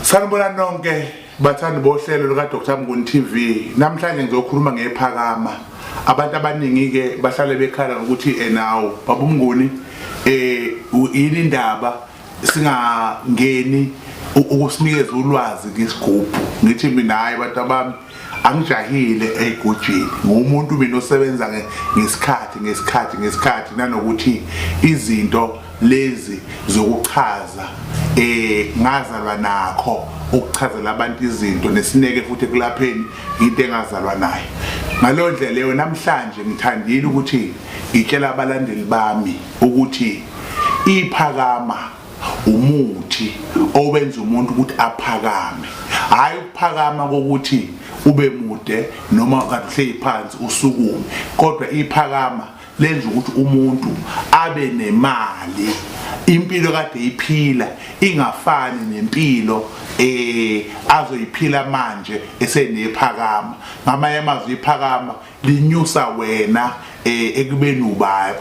Sanibona nonke bathandi bohlelo luka Dr Mnguni TV. Namhlanje ngizokhuluma ngephakama. Abantu abaningi ke bahlale bekhala ukuthi enawo babumnguni eh yini indaba singangeni ukusinikeza ulwazi ngesigubhu ngithi mina hayi bantu abami angijahile eyigojini ngumuntu mina osebenza ngesikhathi ngesikhathi ngesikhathi nanokuthi izinto lezi zokuchaza eh ngazalwa nakho ukuchazela abantu izinto nesineke futhi kulapheni into engazalwa nayo ngalondlela leyo namhlanje ngithandile ukuthi ngitshela abalandeli bami ukuthi iphakama umuthi owenza umuntu ukuthi aphakame hayi ukuphakama kokuthi ube mude noma kahle phansi usukume kodwa iphakama lenza ukuthi umuntu abe nemali impilo kade iphila ingafani nempilo eh azoyiphila manje esenephakama ngamanye amazwi iphakama linyusa wena eh, ekubeni uba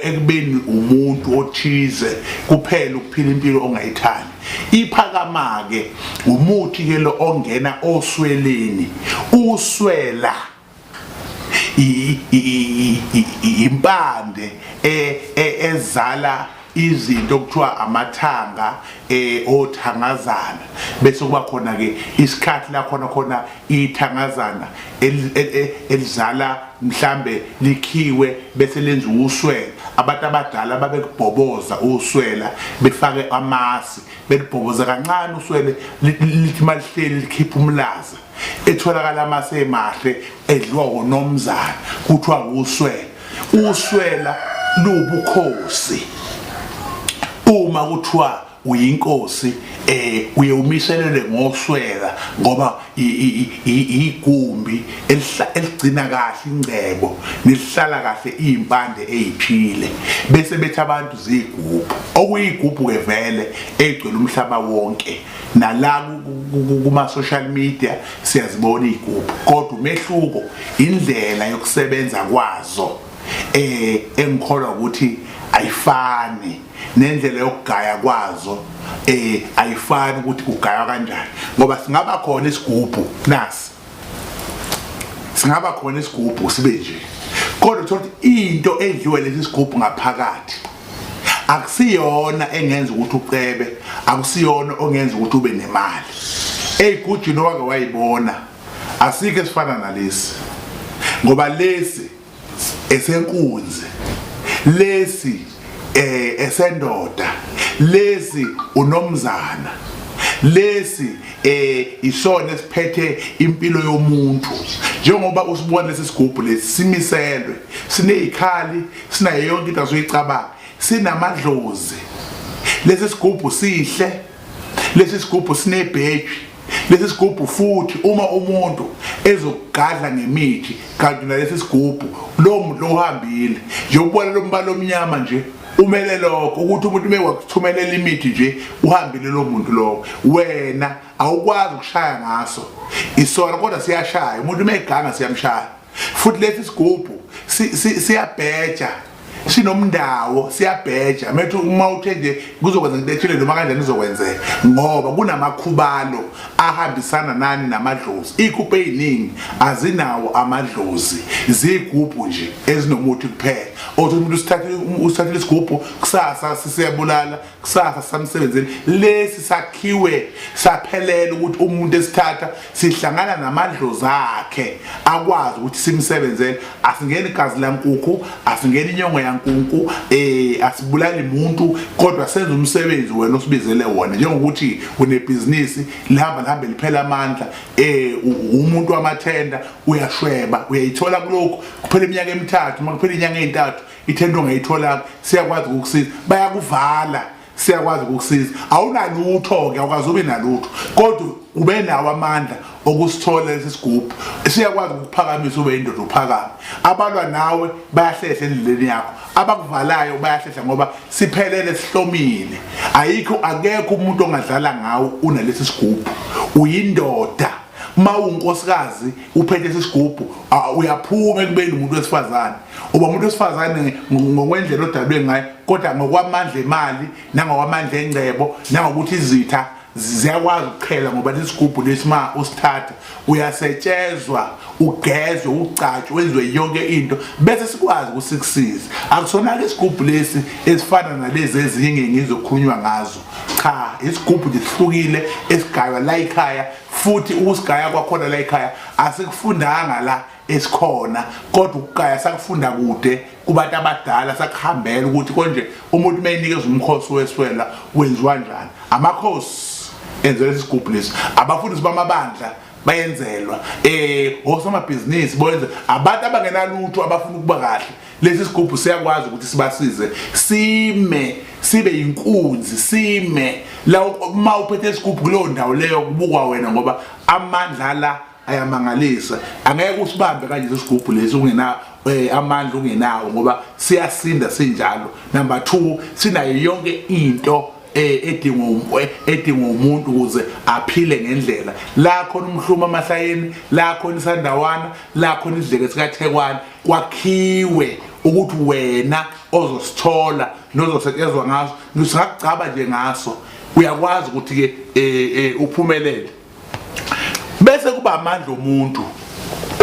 ekubeni umuntu othize kuphela ukuphila impilo ongayithandi iphakama ke umuthi ke lo ongena osweleni uswela impande e, e, ezala izinto okuthiwa amathanga eh othangazana bese kuba khona ke isikhathi la khona khona ithangazana elizala mhlambe likhiwe bese lenza uswela abantu abadala babekubhoboza uswela befake amasi belibhoboza kancane uswele lithi malihleli likhipha umlaza etholakala amase emahle edloko nomzana kuthiwa uswela uswela lubukhosi uma kuthiwa uyinkosi eh uye umiselele ngoswela ngoba igumbi eligcina kahle ingcebo nelihlala kahle izimpande eziphile bese bethi abantu zigubhu okuyigubhu ke vele egcwele umhlaba wonke nala kuma-social media siyazibona iy'gubhu kodwa umehluko indlela yokusebenza kwazo um engikholwa ukuthi ayifani nendlela yokugaya kwazo um ayifani ukuthi kugaywa kanjani ngoba singaba khona isigubhu nasi singaba khona isigubhu sibe nje kodwa uthola ukuthi into edliwe lesi sigubhu ngaphakathi akusiyona engenza ukuthi ucebe akusiyona ongenza ukuthi ube nemali eyigujini owake wayibona asike sifana nalesi ngoba lesi esenkunzi lesi eh esendoda lesi unomzana lesi eh isona esiphethe impilo yomuntu njengoba usibona lesi sigubhu lesi simiselwe sinezikhali sinayo yonke into asoyicabanga sinamadlozi lesi sigubhu sihle lesi sigubhu sinebheji Lesi sigubhu futhi uma umuntu ezokugadla ngemithi kanti nalesi sigubhu lowo muntu lohambile njengokubona lo mbala omnyama nje umele lokho ukuthi umuntu uma wakuthumelela imithi nje uhambile lo muntu lowo wena awukwazi ukushaya ngaso isona kodwa siyashaya umuntu uma eganga siyamshaya futhi lesi sigubhu siyabheja sinomndawo siyabheja methu uma uthe nje kuzokwenza into ethile noma kanjani izokwenzeka ngoba kunamakhubalo ahambisana nani namadlozi ikhuphe eziningi azinawo amadlozi zigubhu nje ezinomuthi kuphela othi umuntu usithathile usithathile isigubhu kusasa sisiyabulala kusasa samsebenzini lesi sakhiwe saphelela ukuthi umuntu esithatha sihlangana namadlozi akhe akwazi ukuthi simsebenzele asingeni igazi lankukhu asingeni inyongo yankunku um eh, asibulali muntu kodwa senza umsebenzi wena osibizele wona njengokuthi unebhizinisi lihamba lihambe liphela amandla um umuntu wamathenda uyashweba uyayithola kulokhu kuphela iminyaka emithathu uma kuphela inyanga ey'ntathu ithenda ongayitholanga siyakwazi ukukusiza bayakuvala siyakwazi ukukusiza awunalutho-ke awukazi ube nalutho kodwa ube nawo amandla okusithola lesi sigubhu siyakwazi ukukuphakamisa ube indoda uphakame abalwa nawe bayahlehla endleleni yakho abakuvalayo bayahlehla ngoba siphelele sihlomile ayikho akekho umuntu ongadlala ngawo unalesi sigubhu uyindoda mawunkosikazi uphethe isigubhu uyaphuma ekubeni umuntu wesifazane uba umuntu wesifazane ngokwendlela odalwe ngayo kodwa ngokwamandla emali nangokwamandla engcebo nangokuthi izitha ziyakwazi ukuqhela ngoba lesigubhu lesima usithatha uyasetshezwa ugezwe ugcatshwe wenziwe yonke into bese sikwazi ukuthi sikusize akusona-ke isigubhu lesi esifana nalezi ezinye ngizokhulunywa ngazo cha isigubhu nje sihlukile esigaywa la ekhaya futhi ukusigaya kwakhona la ekhaya asikufundanga la esikhona kodwa ukugaya sakufunda kude kubantu abadala sakuhambela ukuthi konje umuntu uma enikeza umkhosi weswela wenziwa njani amakhosi enzelwa isigubhu lesi abafundisi bamabandla bayenzelwa eh osomabhizinisi boyenze abantu abangenalutho abafuna ukuba kahle lesi sigubhu siyakwazi ukuthi sibasize sime sibe inkunzi sime la uma uphethe isigubhu kuleyo ndawo leyo kubukwa wena ngoba amandla la ayamangalisa angeke usibambe kanje lesigubhu lesi ungena eh, amandla ungenawo ngoba siyasinda sinjalo number 2 sinayo yonke into eh, edingwa eh, edingwa umuntu ukuze aphile ngendlela la khona umhluma amahlayeni la khona isandawana la khona isidleke sikathekwana kwakhiwe ukuthi wena ozosithola nozosetshezwa ngaso singakugcaba nje ngaso uyakwazi ukuthi-ke um um uphumelele bese kuba amandla omuntu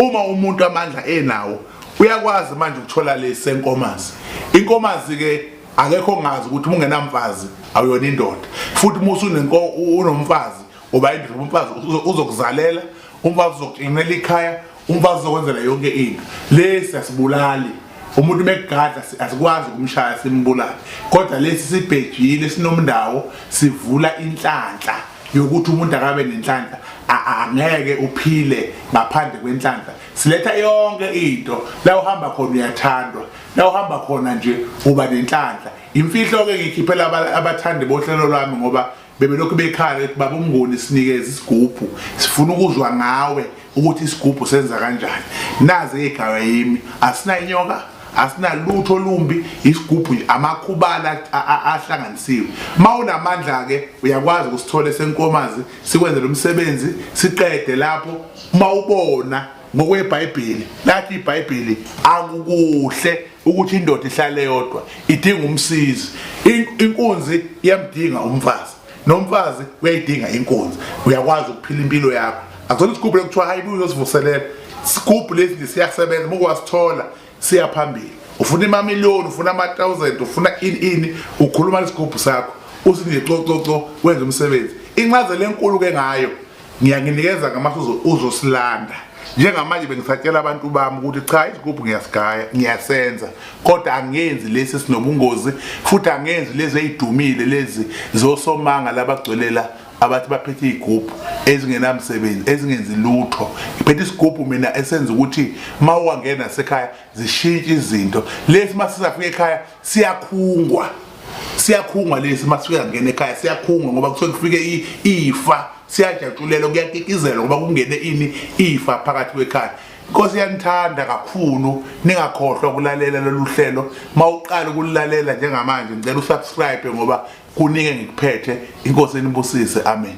uma umuntu amandla enawo uyakwazi manje ukuthola lesi senkomazi inkomazi-ke akekho ngazi ukuthi uma ungenamfazi awuyona indoda futhi uma usunomfazi uba indoda umfazi uzokuzalela umfazi uzokugcinela ikhaya umfazi uzokwenzela yonke into lesi asibulali umuntu megadla asikwazi ukumshaya simbulale kodwa lesi sibhejile sinomndawo sivula inhlanhla yokuthi umuntu akabe nenhlanhla angeke uphile ngaphandle kwenhlanhla siletha yonke into la uhamba khona uyathandwa la uhamba khona nje uba nenhlanhla imfihlo ke ngikhiphela abathandi bohlelo lwami ngoba Bebelokhu bekhala ukuthi baba uMnguni sinikeze isigubhu sifuna ukuzwa ngawe ukuthi isigubhu senza kanjani nazi igaba yimi asinayinyoka asinalutho olumbi isigubhu amakhubala ahlanganisiwe mawunamandla ke uyakwazi ukusithola senkomazi sikwenze lomsebenzi siqede lapho mawubona NgokweBhayibheli, lathi iBhayibheli akukuhle ukuthi indoda ihlale yodwa, idinga umsizi. Inkunzi iyamdinga umfazi, nomfazi uyayidinga inkunzi. Uyakwazi ukuphila impilo yakho. Akuzona isigubhu lokuthiwa hayi buye uyozivuselela. Isigubhu lesi nje siyasebenza, uma kwasithola siya phambili ufuna imamiliyoni ufuna ama-thousand ufuna ini ini ukhuluma lesigubhu sakho uthi nje cococo wenza umsebenzi incazelo enkulu-ke ngayo ngiyanginikeza ngamasu uzosilanda njengamanje bengisatshela abantu bami ukuthi cha isigubhu ngiyasigaya ngiyasenza kodwa angenzi lesi sinobungozi futhi angenzi lezi eyidumile lezi zosomanga labagcwelela abathi baphethe iy'gubhu ezingenamsebenzi ezingenzi lutho ngiphethe isigubhu mina esenza ukuthi uma uwangena nasekhaya zishintshe izinto lesi uma sisafika ekhaya siyakhungwa siyakhungwa lesi uma sifika ngena ekhaya siyakhungwa ngoba kusuke kufike ifa siyajatshulelwa kuyakikizelwa ngoba kungene ini ifa phakathi kwekhaya Nkosi yanithanda kakhulu ningakhohlwa ukulalela lolu hlelo mawuqala ukulalela njengamanje ngicela usubscribe ngoba Kunike ngikuphethe inkosi enibusise amen.